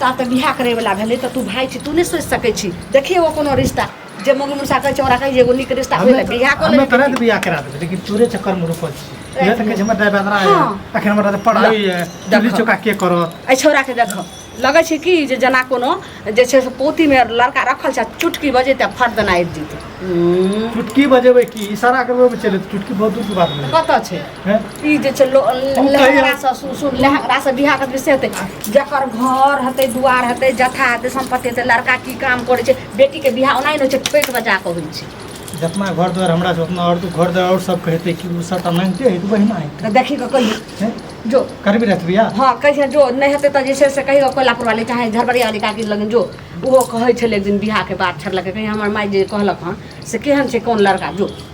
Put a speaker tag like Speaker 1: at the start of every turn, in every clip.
Speaker 1: ता तऽ बियाह करैवला भेलै तऽ तू भाय छी तू नहि सोचि सकै छी देखिए ओ कोनो रिश्ता जे मौगी मुसा कहै छै ओकरा कहै जे एगो नीक रिश्ता होइले बियाह कऽ हमे तोरे लेबै बियाह करा देबै
Speaker 2: लेकिन तोरे चक्कर में रुकल छी इहे तऽ कहै छै हमर ड्राइवर है हाँ। अखन हमरा तऽ पढ़ाई है दिल्ली चौका के करत एहि छौड़ाके देखऽ
Speaker 1: लगै छै कि जे जेना कोनो जे छै से पोतीमे लड़का रखल छै आ चुटकी बजेतै आ फट देना आबि जेतै चुटकी
Speaker 2: बजेबै की इशारा करबै चले चुटकी बहुत दूर के बात है कतऽ छै
Speaker 1: हैं? ई जे छै
Speaker 2: लो- हम
Speaker 1: लहंगा कहिया- से सुन सुन लहंगा से बियाह के विषय हेतै जकर घर हेतै दुआर हेतै जथा हेतै संपत्ति हेतै लड़का की काम करै छै बेटी के बियाह ओनाही नहि होइ छै ठोकि बजा कऽ होइ छै जितना घर द्वार
Speaker 2: हमरा से उतना और तू घर द्वार और सब कहते कि वो सब अनंते है तो वही ना है तऽ देखी कऽ कहियो हैं?
Speaker 1: जो कर भी रहती भैया हँ
Speaker 2: कहिया जो नहि
Speaker 1: हेतै तऽ जे छै से कहियो कोइलापुर वाली चाहे झरबरिया वाली काकी लग जो ओहो कहै छलै एक दिन बियाह के बात छड़लकै कहिया हमर माय जे कहलक हँ से केहन छै कोन लड़का जो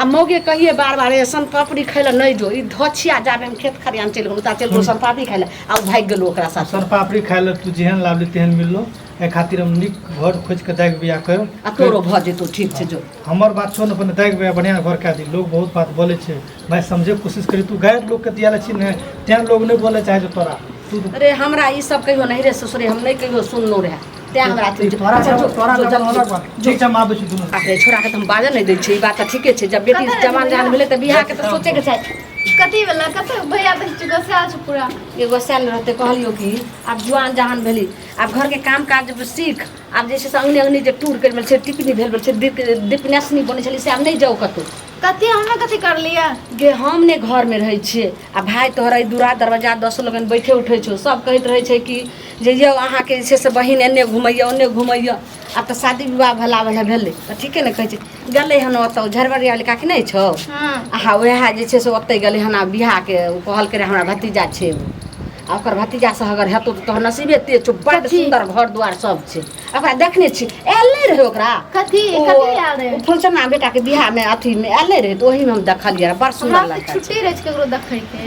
Speaker 1: आ मौगे कहिए बार बार ए सन पापड़ी खाय लए नहि जो ई धछिया जाबे हम खेत खरियान चलि गेलहुँ ता चलि गेलहुँ सन पापड़ी खाय लए आ ओ भागि गेलहुँ ओकरा साथ सर पापड़ी खाय लए तू
Speaker 2: जेहन लावली तेहन मिललो एहि खातिर हम नीक घर खोजि कऽ दागि बियाह कर आ तोरो भऽ जेतौ
Speaker 1: ठीक छै जो हमर बात छोड़ अपन
Speaker 2: दागि बियाह बढ़िआँ घर कए दी लोग बहुत बात बोलै छै भाय समझे कोशिश करी तू गैर लोकके दिया लै छी ने तें लोग नहि बोलै चाहै छै तोरा तू अरे हमरा ई सब
Speaker 1: कहियो नहीं रे ससुरे हम नहीं कहियो सुनलहुँ रहे तैँ हमरा अथी जो- तोरा अच्छा, जो- सब- तोरा जो- सब जो-
Speaker 2: अलग बात। ठीक छै हम आबै छी दुनू बाप रे छोड़ा के तऽ हम बाजऽ नहि
Speaker 1: दै छियै ई बात तऽ ठीके छै जब बेटी कतऽ जवान रहै? जहान भेलै तऽ बियाह के तऽ सोचे के चाही कथी वाला कतऽ
Speaker 3: भैया बस चुका से आज पूरा एगो सैल रहते
Speaker 1: कहलियो कि आब जुआन जहान भेली आब घर के काम काज जब सीख आब जैसे से अंगने अंगने जे टूर कर छै टिकनी भेल छै डिपनेसनी बनै छलै से आब नहि जाउ कतहु कथी हमने कथी
Speaker 3: कर लिया गे हम ने
Speaker 1: घर में रहे छिए आ भाय तोहरा ई दूरा दरवाजा दस लोगन बैठे उठे छौ सब कहैत रहे छै कि जे यौ अहाँके जे छै से बहिन एन्ने घुमैए ओन्ने घुमैए आब तऽ शादी विवाह भला भला भेलै तऽ ठीके ने कहै छै गेलै हन ओतऽ झरबरिया वाली काकी नहि छौ हँ आहा वएह जे छै से ओतहि गेलै हन आ बियाहके ओ कहलकै रहए हमरा भतीजा छै एगो आ ओकर भतीजासँ अगर हेतौ तऽ तोहर नसीबे तेज छौ बड्ड कथी? सुन्दर घर दुआर सब छै ओकरा देखने छी आयल नहि रहै ओकरा कथी ओ- कथी आयल
Speaker 3: रहे ओ फुलसना बेटाके बियाहमे
Speaker 1: अथीमे आयल नहि रहै तऽ ओहिमे हम देखलियै रहए बड़ हमरा सुन्दर तऽ लड़का छै छुट्टी रहै छै ककरो देखैके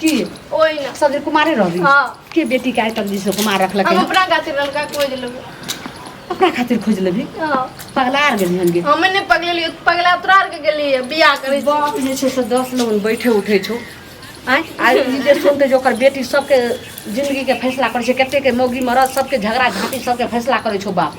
Speaker 1: की
Speaker 3: ओहि
Speaker 1: ना सब दिन
Speaker 3: कुमारे रहबी
Speaker 1: हाँ। के बेटी के
Speaker 3: आइ तक
Speaker 1: जैसे कुमार रखलक हम है? अपना खातिर
Speaker 3: लड़का खोज लेबै अपना
Speaker 1: खातिर खोज लेबी हाँ। पगला आर
Speaker 3: गेली हनगे
Speaker 1: हमे नहि पगलेलियै
Speaker 3: पगला तोरा आरके गेलियै बियाह करै छी बाप जे छै से दस
Speaker 1: लोग बैठे उठे छौ आँय आ ई जे सुनते जे ओकर बेटी सबके जिंदगी के फैसला करै छै कते के मौगी मरद सबके झगड़ा झाँटी सबके फैसला करै छौ बाप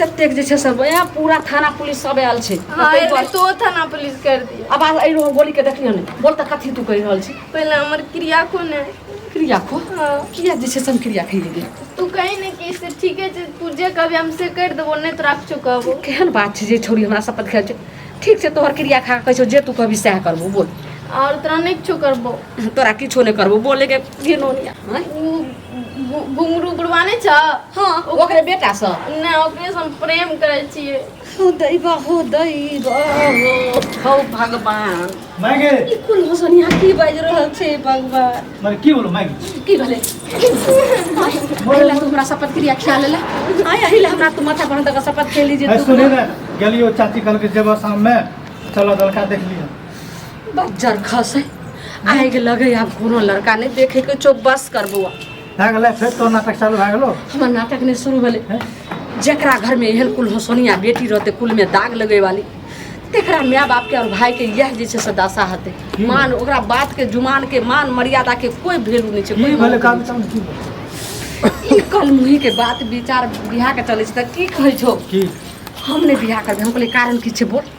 Speaker 3: कतेक जे
Speaker 1: छै से वएह पूरा थाना पुलिस सब आयल छै हँ ताहि एहि दुआरे तो
Speaker 3: थाना पुलिस कर दिया आवाज आबि रहल गोली के
Speaker 1: देखियौ ने बोल तऽ कथी तू कहि रहल छी पहले हमर क्रिया
Speaker 3: कोन है क्रिया खो
Speaker 1: हाँ किया जे छै से
Speaker 3: हम क्रिया
Speaker 1: खैली गेल तू कही ने कि
Speaker 3: से ठीके छै तू जे कहबी हम से कर देबो नहीं तोरा कुछ कहबो केहन बात छै जे छोरी
Speaker 1: हमरा शपथ खाइ छै ठीक छै तोहर क्रिया खा कऽ कहै छौ जे तू कहबी सएह करबो बोल और तोरा नहीं कुछ
Speaker 3: करबो तोरा किछो नहि
Speaker 1: करबो बोले के घिनौनिया आँय? उ
Speaker 3: गु- घुंगरू बुढ़वा नहि छ हँ ओकरे
Speaker 1: बेटा सब नहि ओकरे से हम
Speaker 3: प्रेम करै छियै हो दैबा
Speaker 1: हो दैबा हो हौ भगवान मायके ई
Speaker 2: कुल होसनिया
Speaker 1: की बाजि रहल छै भगवान मर की बोलो मायके
Speaker 2: की
Speaker 1: भेलै अहिला तू हमरा शपथ क्रिया खिया लेला आय अहिला हमरा तू माथा पर दगा शपथ खेली जे है तू सुनी ना
Speaker 2: गलियो चाची कल के जेबा शाम में चलो दलका देख लियो बज्जर
Speaker 1: खसे आगि लगे आब कोनो लड़का नहि देखे के चो बस कर बौआ भए गेलै फेर
Speaker 2: तो नाटक चालू भए गेलो हमर नाटक नहि शुरू
Speaker 1: भेलै जकरा
Speaker 2: घरमे
Speaker 1: एहन कुल हसोनिया बेटी रहतै कुलमे दाग लगै वाली तेकरा माय बापके आओर भायके इएह जे छै से दशा हेतै मान ओकरा बातके जुमानके मान मर्यादाके कोइ भेलू नहि छै की कोइ भेलै काम काम
Speaker 2: की भेलै?
Speaker 1: ई कलमुहीके बात विचार बिहाके चलै छै तऽ की कहै छौ की हम
Speaker 2: नहि बिहा
Speaker 1: करबै हम कहलियै कारण की छै बोल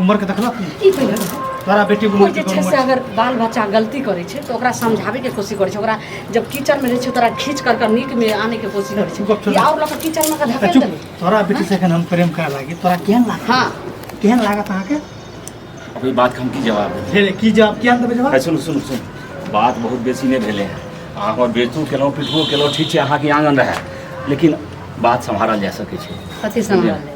Speaker 2: उम्र के देखलक नहीं ई पहिले बताउ।
Speaker 1: तोरा बेटी कोई उम्र
Speaker 2: जे के छै से अगर बाल
Speaker 1: बच्चा गलती करे छै तो ओकरा समझावे के कोशिश करे छै ओकरा जब किचन में रहे छै तोरा खींच कर के नीक में आने के कोशिश करे गप छै छोड़। ई और लोग किचन में का धकेल चुप देबे तोरा बेटी से एखन
Speaker 2: हम प्रेम करे लागी तोरा केहन लाग हां केहन
Speaker 1: लागत अहाँके
Speaker 2: अब ई बात
Speaker 4: के हम की जवाब देब हे रे, की जवाब केहन देबै
Speaker 2: जवाब है सुनू सुनू सुनू
Speaker 4: बात बहुत बेसी नहीं भेले हैं अहाँ हमर बेचो केलहुँ पिटबो केलहुँ ठीक छै अहाँके आंगन रहे लेकिन बात सम्हारल जा सकै छै कथी समझ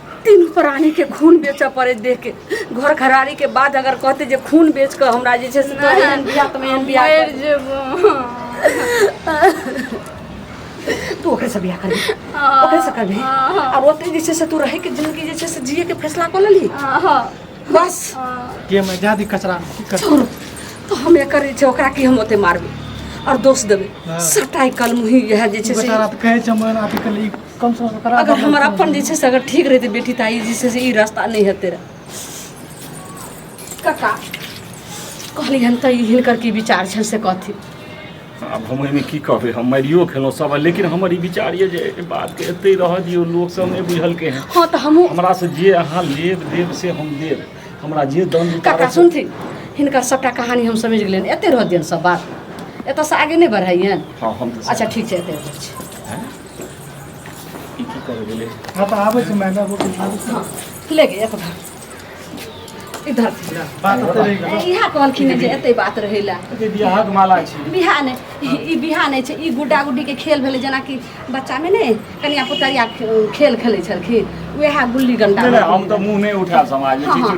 Speaker 1: तीन प्राणी के खून बेचऽ पड़े देख के घर खरारी के बाद अगर कहते जे खून बेच के हमरा जे छै से तोरा एहन बियाह तुम एहन बियाह मर कर। जेबो तू ओकरे से बियाह करबी ओकरे से करबी आब ओते जे छै से तू रहे के जिंदगी जे छै से जिए के फैसला कर लेली
Speaker 3: बस
Speaker 1: के में
Speaker 2: जादी कचरा में की कर छोड़ो तो
Speaker 1: हम एकर जे छै ओकरा की हम ओते मारबे और दोष देबे हाँ। सटाई कलम
Speaker 2: ही
Speaker 1: यह जे छै से बेचारा त कहे छै मन आके
Speaker 2: कल ई कम से कम करा अगर देबै। हमर अपन जे छै से अगर
Speaker 1: ठीक रहितै बेटी तऽ आइ जे छै से ई रास्ता नहि हेतै रहे कका कहली हन तऽ ई हिनकर की विचार छनि से कहथिन आब हम
Speaker 4: एहिमे की कहबै हम मारियो खेलहुँ सब लेकिन हमर ई विचार यऽ जे एहि बातके एतै रहऽ दियौ लोक सब नहि बुझलकै हँ हँ तऽ हमहूँ हमरा से
Speaker 1: जे अहाँ
Speaker 4: लेब देब से हम देब हमरा जे दम काका उतारब से- सुनथिन
Speaker 1: हिनकर सभटा कहानी हम समझि गेलियनि एते रह दियनि सब बात एतऽसँ आगे नहि बढ़ाइयनि हँ हम तऽ अच्छा ठीक
Speaker 4: छै एते रह छी ई की कर गेले हाँ तो आवे से मैंने
Speaker 2: वो दिखा दी ले गए
Speaker 1: अपना इधर से। बात
Speaker 2: तो रहेगा ए, इहा कहलखिन जे एते
Speaker 1: बात रहेला ये बियाह के माला
Speaker 4: छी बिहान
Speaker 1: ई बिहान छै ई गुड्डा गुड्डी के खेल भेलै जेनाकि बच्चामे ने कनिया पुतरिया खे- खेल खेलै छलखिन उएह गुल्ली डंटा नहि नहि हम तऽ मुँह नहि
Speaker 4: उठा समाज हाँ, हाँ।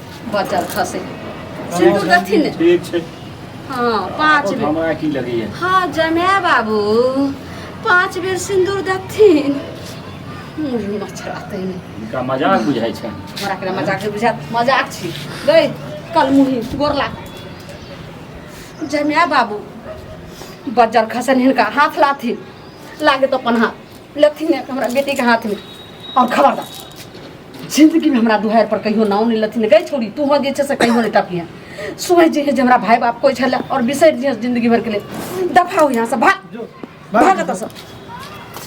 Speaker 1: बचल खसे सिंदूर देथिन ने ठीक छै
Speaker 4: हाँ
Speaker 1: पाँच बेर
Speaker 4: हमरा की लगैया हाँ
Speaker 1: जमाय बाबू पाँच बेर सिंदूर देथिन मुँह मच्छर आते ने इनका मजाक बुझाइ छै हमरा
Speaker 4: के मजाक बुझात
Speaker 1: मजाक छी गई कल मुही गोर लाग जमाय बाबू बजर खसन हिनका हाथ लाथी लागे तो अपन हाथ लथिन हमरा बेटीके हाथमे आओर खबरदार जिंदगीमे हमरा दुहार पर कहियो नाव नहि लथिन गई छोड़ी तू हो जे छै से कहियो नहि टपिहे सोच जे जे हमरा भाय बाप कोइ छलै आओर बिसरि जे जिंदगी भरके लेल दफा हो यहाँ से भाग भाग एतऽसँ